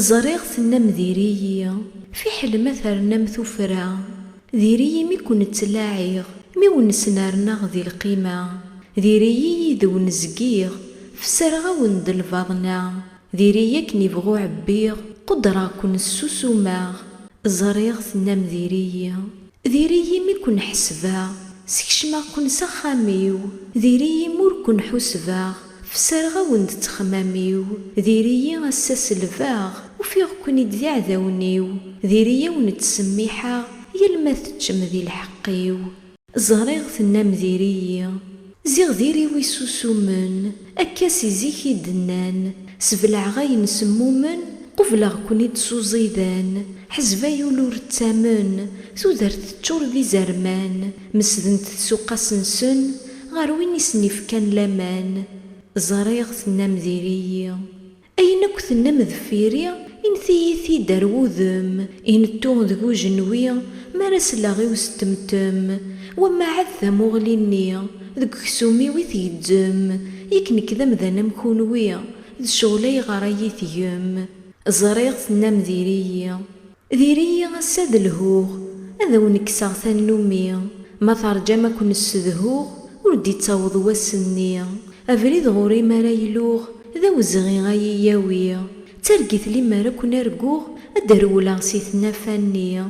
Ẓriɣ tennam diri-yi, fiḥel ma ternam tuffra, diri-yi mi ken-ttlaɛiɣ, mi wen-snernaɣ di lqima, diri-yi yid wen zgiɣ, fessreɣ-awen-d lbaḍna, diri-yi akken ibɣu ɛebbiɣ, qudreɣ-ken ssusumeɣ, ẓriɣ tennam diri-yi. Diri-yi mi ken-ḥesbeɣ, skecmeɣ-ken s axxam-iw, diri-yi mi ur ken-ḥusbeɣ, fessreɣ-awen-d ttexmam-iw, diri-yi ass-a selbeɣ, ufiɣ-ken-id d iɛdawen-iw, diri-yi a wen-ttsemmiḥeɣ, yal ma teččem di lḥeqq-iw. Ẓriɣ tennam diri-yi, Ziɣ diri-w isusumen. Akka si zik i d-nnan. Sebleɛ ayen semmumen. Qubleɣ-ken-id s uẓidan. Ḥezeb ay ul ur ttamen. Tudert teččur d izerman. Mesdent tsuqas-nsen. Ɣer win i sen-ifkan laman. Ẓriɣ tennam diri-yi. Ayen akk tennam deffir-i, init-iyi-t-id ar wudem, inettu deg ujenwi, mi ara sleɣ i usettemtem, wamma ad tamuɣli-nni, deg uksum-iw i tgezzem, yak nekk d amdan am kunwi, d ccɣel ayɣer ay iyi-tgem? Ẓriɣ tennam diri-yi. Diri-yi ass-a ad lhuɣ, ad awen-kkseɣ tannumi, ma terjam ad ken-ssedhuɣ, ur d-ittaweḍ wass-nni, abrid ɣur-i mi ara iluɣ, d awezɣi ad yi-yawi, d targit limer ad ken-arguɣ, ad d-rewleɣ si tnafa-nni.